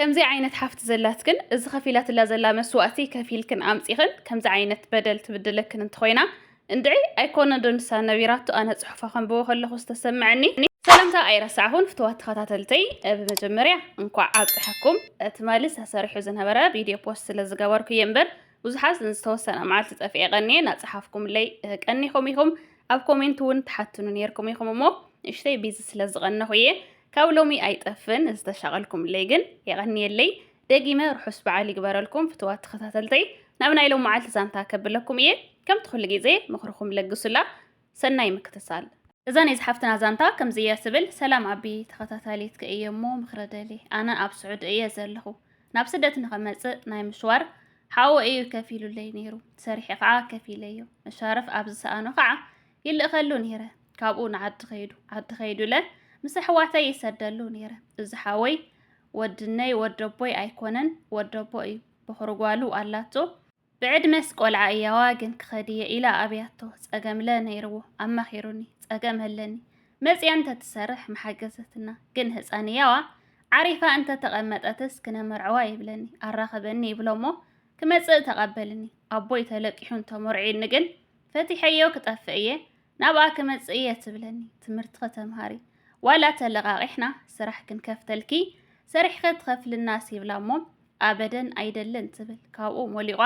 ከምዚ ዓይነት ሓፍቲ ዘላትክን እዚ ከፊላትላ ዘላ መስዋእቲ ከፊልክን ኣምጺኽን ከምዚ ዓይነት በደል ትብድለክን እንተኾይና እንድዒ ኣይኮነን ዶ ንሳ ነቢራቶ ኣነ ጽሑፋ ከንብቦ ከለኹ ዝተሰመዐኒ ሰላምታ ኣይረሳዕኹን ፍትዋት ተኸታተልተይ ብመጀመርያ እንኳዕ ኣብፀሐኩም ትማሊ ተሰሪሑ ዝነበረ ቪድዮ ፖስት ስለ ዝገበርኩ እየ እምበር ብዙሓት ንዝተወሰነ መዓልቲ ፀፊዐ ቀኒየ እናፀሓፍኩምለይ ቀኒኹም ኢኹም ኣብ ኮሜንት እውን ትሓትኑ ነይርኩም ኢኹም እሞ ንእሽተይ ቢዚ ስለ ዝቐነኹ እየ ካብ ሎሚ ኣይጠፍን ዝተሻቐልኩምለይ ግን የቐንየለይ ደጊመ ርሑስ በዓል ይግበረልኩም ፍትዋት ተኸታተልተይ ናብ ናይ ሎም መዓልቲ ዛንታ ከብለኩም እየ ከምቲ ኩሉ ግዜ ምኽርኹም ለግሱላ ሰናይ ምክትታል እዛ ናይ ዝሓፍትና ዛንታ ከምዚ እያ ትብል ሰላም ኣቢ ተኸታታሊትከ እየ እሞ ምኽሪ ደሊ ኣነ ኣብ ስዑዲ እየ ዘለኹ ናብ ስደት ንኸመፅእ ናይ ምሽዋር ሓወ እዩ ከፊሉለይ ነይሩ ሰሪሐ ከዓ ከፊለዮ መሻረፍ ኣብ ዝሰኣኖ ከዓ ይልእኸሉ ነይረ ካብኡ ንዓዲ ኸይዱ ዓዲ ኸይዱ ኢለ ምስ ኣሕዋተይ ይሰደሉ ነይረ እዚ ሓወይ ወድነይ ወደቦይ ኣይኮነን ወደቦ እዩ በኹሪ ጓሉ ኣላቶ ብዕድመስ ቆልዓ እያዋ ግን ክኸድ እየ ኢላ ኣብያቶ ጸገምለ ነይርዎ ኣማኺሩኒ ጸገም ኣለኒ መጽያ እንተትሰርሕ መሓገዘትና ግን ህፃን እያዋ ዓሪፋ እንተተቐመጠትስ ክነመርዐዋ ይብለኒ ኣራኽበኒ ይብሎ እሞ ክመጽእ ተቐበልኒ ኣቦይ ተለቂሑ እንተመርዒኒ ግን ፈቲሐዮ ክጠፍእ እየ ናብኣ ክመጽእ እየ ትብለኒ ትምህርቲ ከተምሃሪ ዋላ ተለቓቒሕና ስራሕ ክንከፍተልኪ ሰሪሕኸ ትኸፍልና ሲብላ እሞ ኣበደን ኣይደልን ትብል ካብኡ ሞሊቋ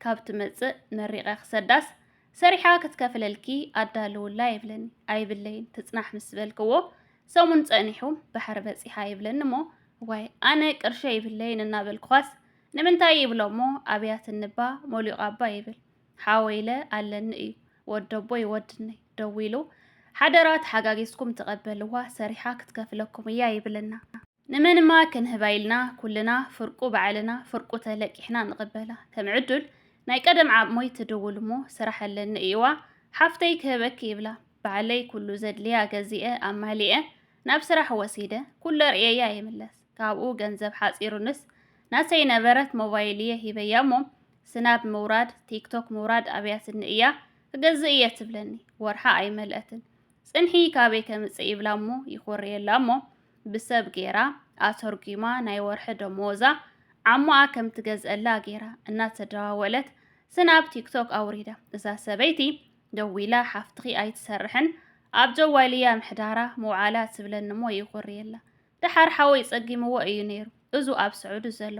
ካብ ትመጽእ መሪቐ ክሰዳስ ሰሪሓ ክትከፍለልኪ ኣዳልውላ ይብለኒ ኣይብለይን ትጽናሕ ምስ በልክዎ ሰሙን ጸኒሑ ባሕሪ በጺሓ ይብለኒ እሞ ዋይ ኣነ ቅርሸ ይብለይን እናበልኩኻስ ንምንታይ ይብሎ እሞ ኣብያት እንባ ሞሊቋ ኣባ ይብል ሓወይ ኢለ ኣለኒ እዩ ወደቦይ ወድነይ ደዊሉ ሓደራ ተሓጋጊዝኩም ተቐበልዋ ሰሪሓ ክትከፍለኩም እያ ይብለና። ንመንማ ክንህባ ኢልና ኩልና ፍርቁ ባዕልና ፍርቁ ተለቂሕና ንቕበላ። ከም ዕዱል ናይ ቀደም ዓቕሞይ ትድውል እሞ ስራሕ ኣለኒ እዩዋ ሓፍተይ ክህበኪ ይብላ። ባዕለይ ኩሉ ዘድልያ ገዚኤ ኣማሊኤ ናብ ስራሕ ወሲደ ኩሉ ኣርእየያ ይምለስ። ካብኡ ገንዘብ ሓጺሩንስ ናተይ ነበረት ሞባይል እየ ሂበያ እሞ ስናብ ምውራድ ቲክቶክ ምውራድ ኣብያትኒ እያ ክገዝእ እየ ትብለኒ ወርሓ ኣይመልአትን ጽንሒ ካበይ ከምጽእ ይብላ እሞ ይኾርየላ እሞ ብሰብ ጌራ ኣተርጒማ ናይ ወርሒ ደመወዛ ዓሞኣ ከም ትገዝአላ ጌራ እናተደዋወለት ስናብ ቲክቶክ ኣውሪዳ እዛ ሰበይቲ ደዊላ ሓፍትኺ ኣይትሰርሕን ኣብ ጀዋልያ ምሕዳራ ምውዓላ ትብለኒ እሞ ይኹርየላ ደሓር ሓወይ ጸጊምዎ እዩ ነይሩ እዙ ኣብ ስዑዲ ዘሎ።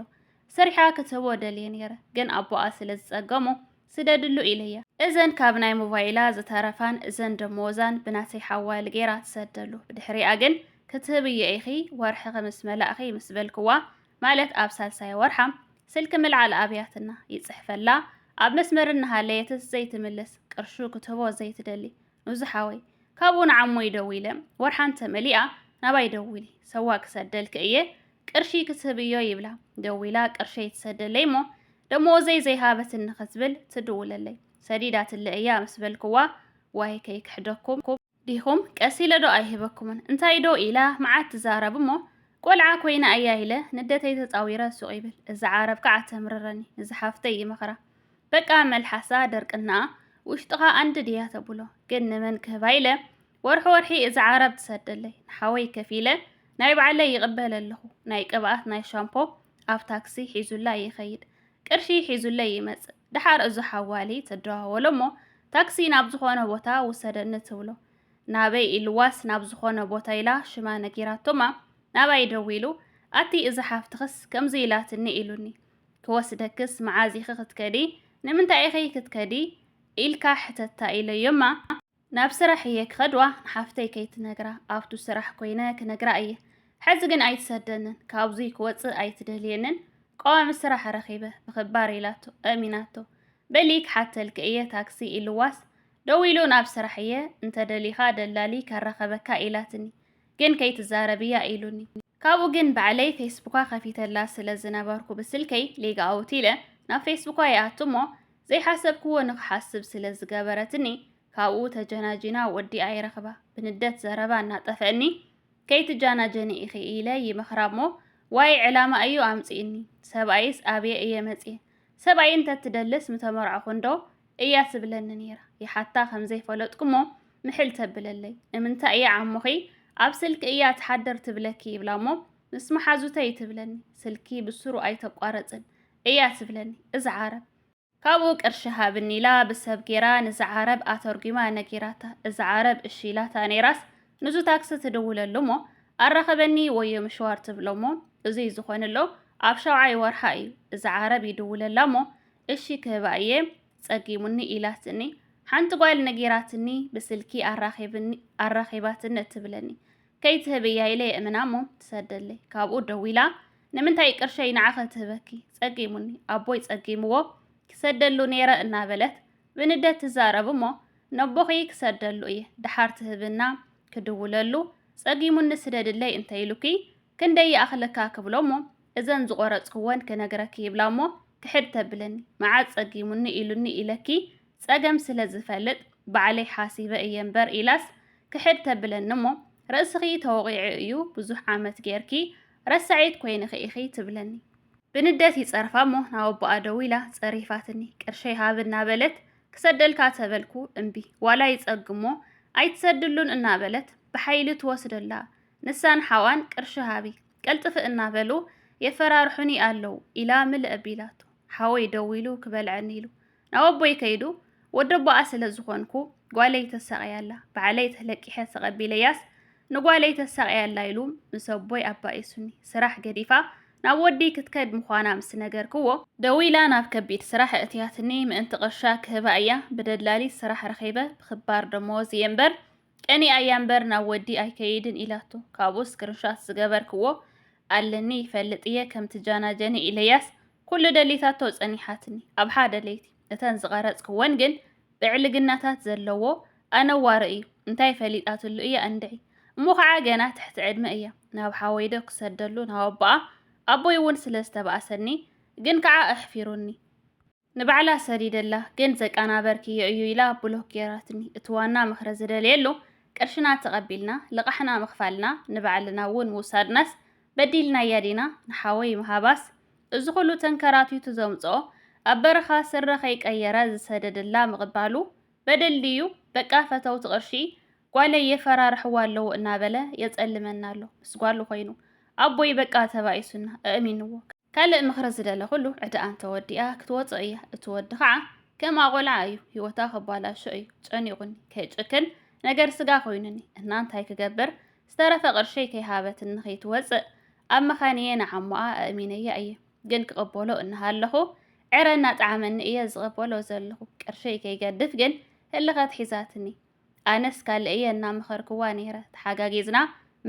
ሰሪሓ ክትህቦ ደልየ ነይረ ግን ኣቦኣ ስለ ዝጸገሞ ስደድሉ ኢለያ። እዘን ካብ ናይ ሞቫይላ ዝተረፋን እዘን ደሞወዛን ብናተይ ሓዋል ገይራ ትሰደሉ ብድሕሪኣ ግን ክትህብዮ ኢኺ ወርሕኺ ምስ መላእኺ ምስ በልክዋ ማለት ኣብ ሳልሳይ ወርሓ ስልኪ ምልዓል ኣብያትና ይጽሕፈላ ኣብ መስመር እናሃለየትስ ዘይትምልስ ቅርሹ ክትህቦ ዘይትደሊ እዚ ሓወይ ካብኡ ንዓሞይ ደዊለ ወርሓ እንተመሊኣ ናባይ ደዊሊ ሰዋ ክሰደልኪ እየ ቅርሺ ክትህብዮ ይብላ ደዊላ ቅርሸይ ትሰደለይ እሞ ደሞወዘይ ዘይሃበትኒ ክትብል ትድውለለይ ሰዲዳትለ እያ ምስ በልክዋ ዋይ ከይክሕደኩም ዲኹም ቀስ ኢለ ዶ ኣይህበኩምን እንታይ ዶ ኢላ መዓት ትዛረብ እሞ ቆልዓ ኮይና እያ ኢለ ንደተይ ተፃዊረ ሱቕ ይብል እዚ ዓረብ ከዓ ተምርረኒ እዚ ሓፍተይ ይመኽራ በቃ መልሓሳ ድርቅናኣ ውሽጥኻ ኣንድድ ኢያ ተብሎ ግን ንመን ክህባ ኢለ ወርሒ ወርሒ እዛ ዓረብ ትሰደለይ ንሓወይ ከፊለ ናይ ባዕለይ ይቅበል ኣለኹ ናይ ቅብኣት ናይ ሻምፖ ኣብ ታክሲ ሒዙላይ ይኸይድ ቅርሺ ሒዙለይ ይመጽእ ድሓር እዞ ሓዋሊ ትደዋወሎ እሞ ታክሲ ናብ ዝኾነ ቦታ ውሰደኒ ትብሎ ናበይ ኢልዋስ ናብ ዝኾነ ቦታ ኢላ ሽማ ነጊራቶማ ናባይ ደዊሉ ኣቲ እዛ ሓፍትኽስ ከምዚ ኢላትኒ ኢሉኒ ክወስደክስ መዓዝ ኢኺ ክትከዲ? ንምንታይ ኢኺ ክትከዲ? ኢልካ ሕተታ ኢለዮማ። ናብ ስራሕ እየ ክኸድዋ ንሓፍተይ ከይትነግራ ኣብቱ ስራሕ ኮይነ ክነግራ እየ። ሕዚ ግን ኣይትሰደንን ካብዙይ ክወፅእ ኣይትደልየንን ቀዋሚ ስራሕ ረኺበ ብኽባር ኢላቶ ኣእሚናቶ። በሊ ክሓተልኪ እየ ታክሲ ኢልዋስ ደዊሉ ናብ ስራሕ እየ እንተደሊኻ ደላሊ ከራኸበካ ኢላትኒ። ግን ከይትዛረብያ ኢሉኒ። ካብኡ ግን ባዕለይ ፌስቡካ ከፊተላ ስለ ዝነበርኩ ብስልከይ ሌግ ኣውት ኢለ ናብ ፌስቡካ ይኣቱ እሞ ዘይሓሰብክዎ ንክሓስብ ስለ ዝገበረትኒ ካብኡ ተጀናጂና ወዲኣ ይረኽባ ብንደት ዘረባ እናጠፈእኒ ከይትጃናጀኒ ኢኺ ኢለ ይመኽራ እሞ ዋይ ዕላማ እዩ ኣምጺእኒ ሰብኣይስ ኣብየ እየ መጽየ ሰብኣይ እንተትደልስ ምተመርዓኹ እንዶ እያ ትብለኒ ነይራ። ይሓታ ከም ዘይፈለጥኩ'ሞ ምሕል ተብለለይ። ንምንታይ እያ ዓሞኺ ኣብ ስልኪ እያ ትሓድር ትብለኪ ይብላ'ሞ ምስ መሓዙተይ ትብለኒ። ስልኪ ብስሩ ኣይተቋረጽን እያ ትብለኒ እዛ ዓረብ። ካብኡ ቅርሺ ሃብኒ ኢላ ብሰብ ጌራ ንዛ ዓረብ ኣተርጒማ ነጊራታ። እዛ ዓረብ እሺ ኢላታ ነይራስ ንዙ ታክሲ ትድውለሉ'ሞ ኣራኽበኒ ወዮ ምሽዋር ትብሎ'ሞ እዙይ ዝኾንሎ ኣብ ሻውዓይ ወርሓ እዩ። እዛ ዓረብ ይድውለላ'ሞ እሺ ክህባ እየ ጸጊሙኒ ኢላትኒ ሓንቲ ጓል ነጊራትኒ ብስልኪ ኣራኺባትኒ እትብለኒ ከይትህብያ ኢለ የእምና እሞ ትሰደለይ ካብኡ ደዊላ ንምንታይ ቅርሸይ ንዓኸ ትህበኪ ጸጊሙኒ ኣቦይ ጸጊምዎ ክሰደሉ ነይረ እናበለት ብንደት ትዛረብ እሞ ነቦኺ ክሰደሉ እየ ደሓር ትህብና ክድውለሉ ጸጊሙኒ ስደድለይ እንተይሉኪ ክንደይ ይኣኽለካ ክብሎ እሞ እዘን ዝቖረጽክወን ክነግረኪ ይብላ እሞ ክሕድ ተብለኒ መዓት ጸጊሙኒ ኢሉኒ ኢለኪ ጸገም ስለ ዝፈልጥ ባዕለይ ሓሲበ እየ እምበር ኢላስ ክሕድ ተብለኒ እሞ ርእስኺ ተወቒዑ እዩ ብዙሕ ዓመት ጌርኪ ረሳዒት ኮይንኺ ኢኺ ትብለኒ። ብንደት ይጸርፋ እሞ ናብ ኣቦኣ ደዊላ ጸሪፋትኒ ቅርሸይ ሃብ እናበለት ክሰደልካ ተበልኩ እምቢ ዋላ ይጸግሞ ኣይትሰድሉን እናበለት ብሓይሊ ትወስደላ ንሳን ሓዋን ቅርሺ ሃቢ ቀልጥፊ እናበሉ የፈራርሑኒ ኣለው ኢላ ምልእ ኣቢላቶ። ሓወይ ደዊሉ ክበልዐኒ ኢሉ ናብ ኣቦይ ከይዱ ወደቦኣ ስለ ዝኾንኩ ጓለይ ተሳቕያ ኣላ፣ ባዕለይ ተለቂሐ ተቐቢለያስ ንጓለይ ተሳቕያ ኣላ ኢሉ ምስ ኣቦይ ኣባኢሱኒ ስራሕ ገዲፋ ናብ ወዲይ ክትከድ ምዃና ምስ ነገርክዎ፣ ደዊላ ናብ ከቢድ ስራሕ ኣእትያትኒ ምእንቲ ቅርሻ ክህባ እያ ብደላሊት ስራሕ ረኺበ ብኽባር ደመወዝ እየ እምበር ቅንኢ ኣያ እምበር ናብ ወዲ ኣይከይድን ኢላቶ ካብኡ ስክርንሻት ዝገበርክዎ ኣለኒ ይፈልጥ እየ ከም ትጃናጀኒ ኢለያስ ኩሉ ደሊታቶ ጸኒሓትኒ ኣብ ሓደ ለይቲ እተን ዝቐረጽክወን ግን ብዕልግናታት ዘለዎ ኣነዋሪ እዩ እንታይ ፈሊጣትሉ እያ እንድዒ እሞ ከዓ ገና ትሕቲ ዕድመ እያ ናብ ሓወይዶ ክሰደሉ ናብ ኣቦኣ ኣቦይ እውን ስለ ዝተባእሰኒ ግን ከዓ ኣሕፊሩኒ ንባዕላ ሰዲደላ ግን ዘቃናበርክዮ እዩ ኢላ ብሎክ ገይራትኒ እቲ ዋና ምኽሪ ዝደልየሉ ቅርሽና ተቐቢልና ልቓሕና ምኽፋልና ንባዕልና እውን ምውሳድናስ በዲልናያ ዲና ንሓወይ ምሃባስ እዚ ኩሉ ተንከራቲቱ ዘምጽኦ ኣብ በረኻ ስረ ከይቀየረ ዝሰደደላ ምቕባሉ በደል ድዩ በቃ ፈተውቲ ቅርሺ ጓለይ የፈራርሕዋ ኣለዉ እናበለ የጸልመና ኣሎ ምስ ጓሉ ኮይኑ ኣቦይ በቃ ተባኢሱና እእሚንዎ ካልእ ምኽሪ ዝደለኹሉ ዕዳኣ እንተወዲኣ ክትወጾ እያ እቲ ወዲ ኻዓ ከምኣ ቆልዓ እዩ ሂወታ ከባላሾ እዩ ጨኒቁኒ ከይጭክን ነገር ስጋ ኮይኑኒ እና እንታይ ክገብር ዝተረፈ ቅርሸይ ከይሃበትኒ ከይትወጽእ ኣብ መኻንየ ንዓሞኣ ኣእሚነያ እየ ግን ክቅበሎ እናሃለኹ ዕረ እናጠዓመኒ እየ ዝቅበሎ ዘለኹ ቅርሸይ ከይገድፍ ግን ህልኸት ሒዛትኒ ኣነስ ካልእ እየ እናመኸርክዋ ነይረ ተሓጋጊዝና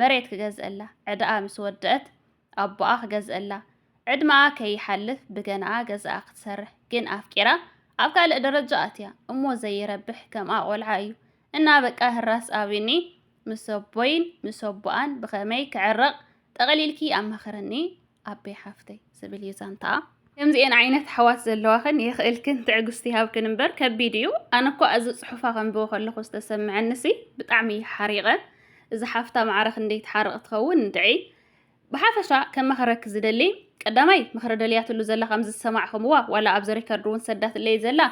መሬት ክገዝእላ ዕዳኣ ምስ ወደእት ኣቦኣ ክገዝእላ ዕድመኣ ከይሓልፍ ብገንኣ ገዝኣ ክትሰርሕ ግን ኣፍቂራ ኣብ ካልእ ደረጃ ኣትያ እሞ ዘይረብሕ ከምኣ ቆልዓ እዩ እና በቃ ህራስ ኣብኒ ምስ ኣቦይን ምስ ኣቦኣን ብኸመይ ክዕረቕ ጠቕሊልኪ ኣማኽርኒ ኣቤ ሓፍተይ ዝብል እዩ ዛንታኣ። ከምዚኤን ዓይነት ኣሕዋት ዘለዋኽን የኽእልክን ትዕግስቲ ይሃብክን እምበር ከቢድ እዩ ኣነ እኳ እዚ ጽሑፋ ከንብቦ ከለኹ ዝተሰምዐንሲ ብጣዕሚ እዩ ሓሪቐ እዛ ሓፍታ ማዕረ ክንደይ ትሓርቕ ትኸውን እንድዒ ብሓፈሻ ከማኽረኪ ዝደሊ ቀዳማይ ምኽሪ ደልያትሉ ዘላ ከም ዝሰማዕኹምዋ ዋላ ኣብዚ ሪከርድ እውን ሰዳትለይ ዘላ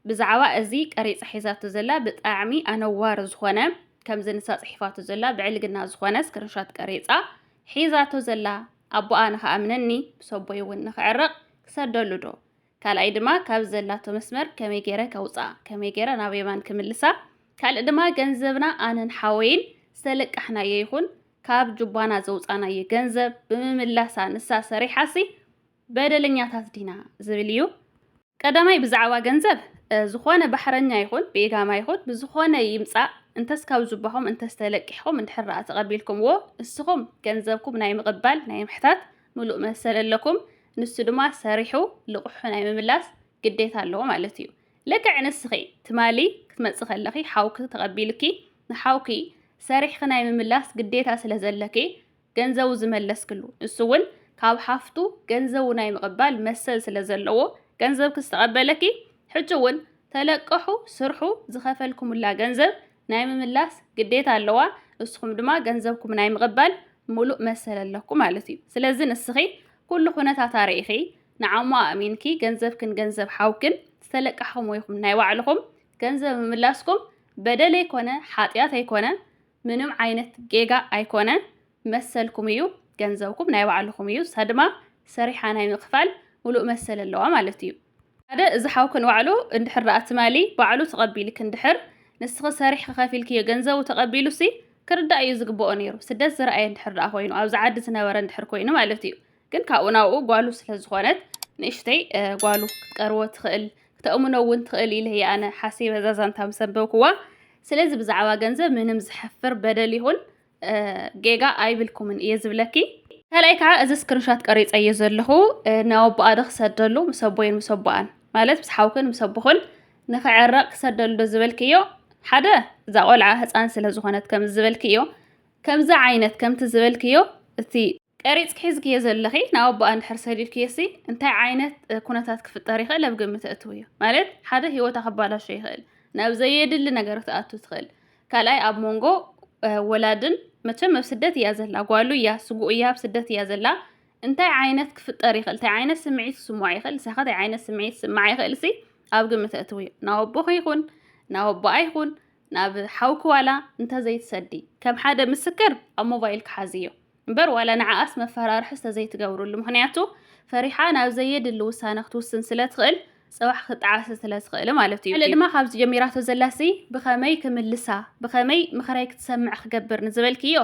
ብዛዕባ እዚ ቀሪጻ ሒዛቶ ዘላ ብጣዕሚ ኣነዋሪ ዝኾነ ከምዚ ንሳ ጽሒፋቶ ዘላ ብዕልግና ዝኾነ ስክሪንሻት ቀሪጻ ሒዛቶ ዘላ ኣቦኣ ንኸኣምነኒ ብሰቦይ እውን ንኽዕረቕ ክሰደሉ ዶ ካልኣይ ድማ ካብ ዘላቶ መስመር ከመይ ገይረ ከውፅኣ ከመይ ገይረ ናብ የማን ክምልሳ ካልእ ድማ ገንዘብና ኣነን ሓወይን ዝተለቃሕናዮ ይኹን ካብ ጁባና ዘውፃናዮ ገንዘብ ብምምላሳ ንሳ ሰሪሓሲ በደለኛታት ዲና ዝብል እዩ ቀዳማይ ብዛዕባ ገንዘብ ዝኾነ ባሕረኛ ይኹን ብኢጋማ ይኹን ብዝኾነ ይምፃእ እንተስ ካብ ጁባኹም እንተስ ተለቂሕኹም እንድሕር ኣ ተቐቢልኩምዎ ንስኹም ገንዘብኩም ናይ ምቕባል ናይ ምሕታት ምሉእ መሰል ኣለኩም ንሱ ድማ ሰሪሑ ልቕሑ ናይ ምምላስ ግዴታ ኣለዎ ማለት እዩ ልክዕ ንስኺ ትማሊ ክትመጽ ከለኺ ሓውኪ ተቐቢልኪ ንሓውኪ ሰሪሕኺ ናይ ምምላስ ግዴታ ስለ ዘለኪ ገንዘቡ ዝመለስክሉ ንሱ እውን ካብ ሓፍቱ ገንዘቡ ናይ ምቕባል መሰል ስለ ዘለዎ ገንዘብኪ ዝተቐበለኪ ሕጂ እውን ተለቀሑ ስርሑ ዝኸፈልኩምላ ገንዘብ ናይ ምምላስ ግዴታ ኣለዋ ንስኹም ድማ ገንዘብኩም ናይ ምቕባል ሙሉእ መሰል ኣለኩም ማለት እዩ ስለዚ ንስኺ ኩሉ ኩነታት ኣርኢኺ ንዓሞ ኣእሚንኪ ገንዘብክን ገንዘብ ሓውክን ዝተለቃሕኹም ወይኹም ናይ ባዕልኹም ገንዘብ ምምላስኩም በደል ኣይኮነ ሓጢኣት ኣይኮነ ምንም ዓይነት ጌጋ ኣይኮነ መሰልኩም እዩ ገንዘብኩም ናይ ባዕልኹም እዩ ንሳ ድማ ሰሪሓ ናይ ምክፋል ሙሉእ መሰል ኣለዋ ማለት እዩ። ሓደ እዚ ሓውኪ ንባዕሉ እንድሕር ደኣ ትማሊ ባዕሉ ተቐቢልኪ እንድሕር ንስኺ ሰሪሕኺ ከፊልክዮ ገንዘቡ ተቐቢሉሲ ክርዳእ እዩ ዝግበኦ ነይሩ ስደት ዝረኣየ እንድሕር ደኣ ኮይኑ ኣብዚ ዓዲ ዝነበረ እንድሕር ኮይኑ ማለት እዩ ግን ካብኡ ናብኡ ጓሉ ስለ ዝኾነት ንእሽተይ ጓሉ ክትቀርቦ ትኽእል ክተእምኖ እውን ትኽእል ኢለ እየ ኣነ ሓሲበ እዛ ዛንታ ምስ ኣንበብክዋ ስለዚ ብዛዕባ ገንዘብ ምንም ዝሐፍር በደል ይኹን ጌጋ ኣይብልኩምን እየ ዝብለኪ። ካልኣይ ከዓ እዚ ስክሪንሻት ቀሪፀዮ ዘለኹ ንኣቦኣ ዶ ክሰደሉ ምስ ኣቦይን ምስ ኣቦኣን ማለት ምስ ሓውክን ምስ ኣቦኹን ንክዕረቕ ክሰደሉ ዶ ዝበልክዮ ሓደ እዛ ቆልዓ ህፃን ስለ ዝኾነት ከም ዝበልክዮ ከምዚ ዓይነት ከምቲ ዝበልክዮ እቲ ቀሪጽኪ ሒዝክዮ ዘለኺ ናብ ኣቦኣ እንድሕር ሰዲድክዮሲ እንታይ ዓይነት ኩነታት ክፍጠር ይኽእል ኣብ ግምት ኣእትውዮ። ማለት ሓደ ሂወታ ከባላሾ ይኽእል ናብ ዘየድሊ ነገር ክትኣቱ ትኽእል ካልኣይ ኣብ ሞንጎ ወላድን መቸም ኣብ ስደት እያ ዘላ ጓሉ እያ ስጉኡ እያ ኣብ ስደት እያ ዘላ እንታይ ዓይነት ክፍጠር ይኽእል እንታይ ዓይነት ስምዒት ክስምዖ ይኽእል ንሳኸ እንታይ ዓይነት ስምዒት ክስምዓ ይኽእልሲ ኣብ ግምት ኣእትውዮ ናብ ኣቦኺ ይኹን ናብ ኣቦኣ ይኹን ናብ ሓውኪ ዋላ እንተዘይትሰዲ ከም ሓደ ምስክር ኣብ ሞባይል ክሓዝዮ እምበር ዋላ ንዓኣስ መፈራርሕስ ተዘይትገብርሉ ምኽንያቱ ፈሪሓ ናብ ዘየድሊ ውሳነ ክትውስን ስለ ትኽእል ጽባሕ ክትጠዓስ ስለ ትኽእል ማለት እዩ። ድማ ካብዚ ጀሚራቶ ዘላሲ ብኸመይ ክምልሳ ብኸመይ ምኽረይ ክትሰምዕ ክገብር ንዝበልክዮ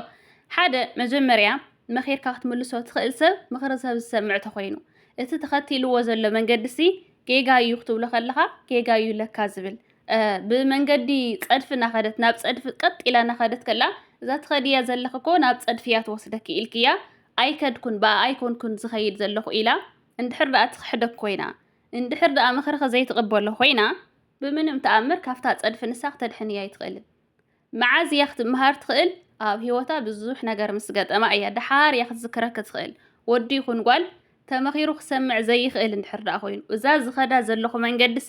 ሓደ መጀመርያ መኺርካ ክትምልሶ ትኽእል ሰብ ምኽሪ ሰብ ዝሰምዕ ተኾይኑ እቲ ተኸቲልዎ ዘሎ መንገዲሲ ጌጋ እዩ ክትብሎ ከለኻ ጌጋ እዩ ለካ ዝብል ብመንገዲ ጸድፊ እናኸደት ናብ ጸድፊ ቀጥ ኢላ እናኸደት ከላ እዛ ትኸድያ ዘለኺ እኮ ናብ ጸድፊ እያ ትወስደኪ ኢልክያ ኣይከድኩን ብኣ ኣይኮንኩን ዝኸይድ ዘለኹ ኢላ እንድሕር ደኣ ትኽሕደክ ኮይና እንድሕር ደኣ ምኽርኺ ዘይትቕበሎ ኮይና ብምንም ተኣምር ካብታ ጸድፊ ንሳ ክተድሕንያ ኣይትኽእልን። መዓዝ እያ ክትመሃር ትኽእል? ኣብ ህይወታ ብዙሕ ነገር ምስ ገጠማ እያ ደሓር እያ ክትዝክረኪ ትኽእል። ወዲ ይኹን ጓል ተመኺሩ ክሰምዕ ዘይኽእል እንድሕር ደኣ ኮይኑ እዛ ዝኸዳ ዘለኹ መንገዲሲ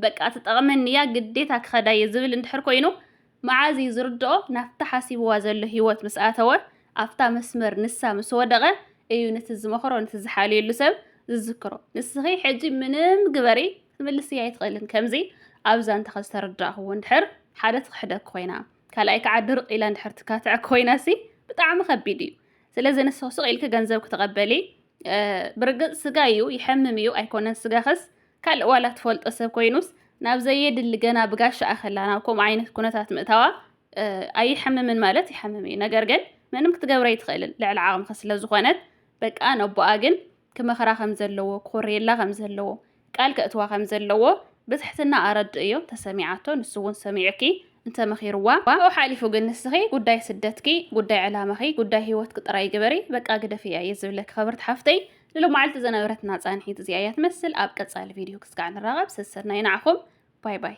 በቃ ትጠቕመኒ እያ ግዴታ ክኸዳ እየ ዝብል እንድሕር ኮይኑ መዓዝ እዩ ዝርድኦ ናብታ ሓሲብዋ ዘሎ ሂወት ምስ ኣተወ ኣብታ መስመር ንሳ ምስ ወደቐ እዩ ነቲ ዝመኽሮ ነቲ ዝሓልየሉ ሰብ ዝዝክሮ ንስኺ ሕጂ ምንም ግበሪ ክትምልስያ ኣይትኽእልን ከምዚ ኣብ ዛንታኺ ዝተረዳእኽዎ እንድሕር ሓደ ትኽሕደኪ ኮይና ካልኣይ ከዓ ድርቅ ኢላ እንድሕር ትካትዕ ኮይናሲ ብጣዕሚ ከቢድ እዩ ስለዚ ንስኽ ሱቕ ኢልኪ ገንዘብ ክትቐበሊ ብርግጽ ስጋ እዩ ይሐምም እዩ ኣይኮነን ስጋኸስ ካልእ ዋላ ትፈልጦ ሰብ ኮይኑስ ናብ ዘየድሊ ገና ብጋሻ ኣኸላ ናብ ከምኡ ዓይነት ኩነታት ምእታዋ ኣይሐምምን ማለት ይሐምም እዩ ነገር ግን ምንም ክትገብረ ይትኽእልን ልዕሊ ዓቕምኸ ስለ ዝኾነት በቃ ነቦኣ ግን ክመኽራ ከም ዘለዎ ክኾርየላ ከም ዘለዎ ቃል ከእትዋ ከም ዘለዎ ብትሕትና ኣረድእዮ ተሰሚዓቶ ንሱ ውን ሰሚዑኪ እንተ መኺርዋ ካብኡ ሓሊፉ ግን ንስኺ ጉዳይ ስደትኪ ጉዳይ ዕላማኺ ጉዳይ ሂወትኪ ጥራይ ግበሪ በቃ ግደፍያ እየ ዝብለኪ ክብርቲ ሓፍተይ ንሎማዓልቲ ዝነበረትና ጻንሒት እዚኣ እያ ትመስል ኣብ ቀጻሊ ቪድዮ ክስጋዕ ንራኸብ ሰሰናዩ ንዓኹም ባይ ባይ።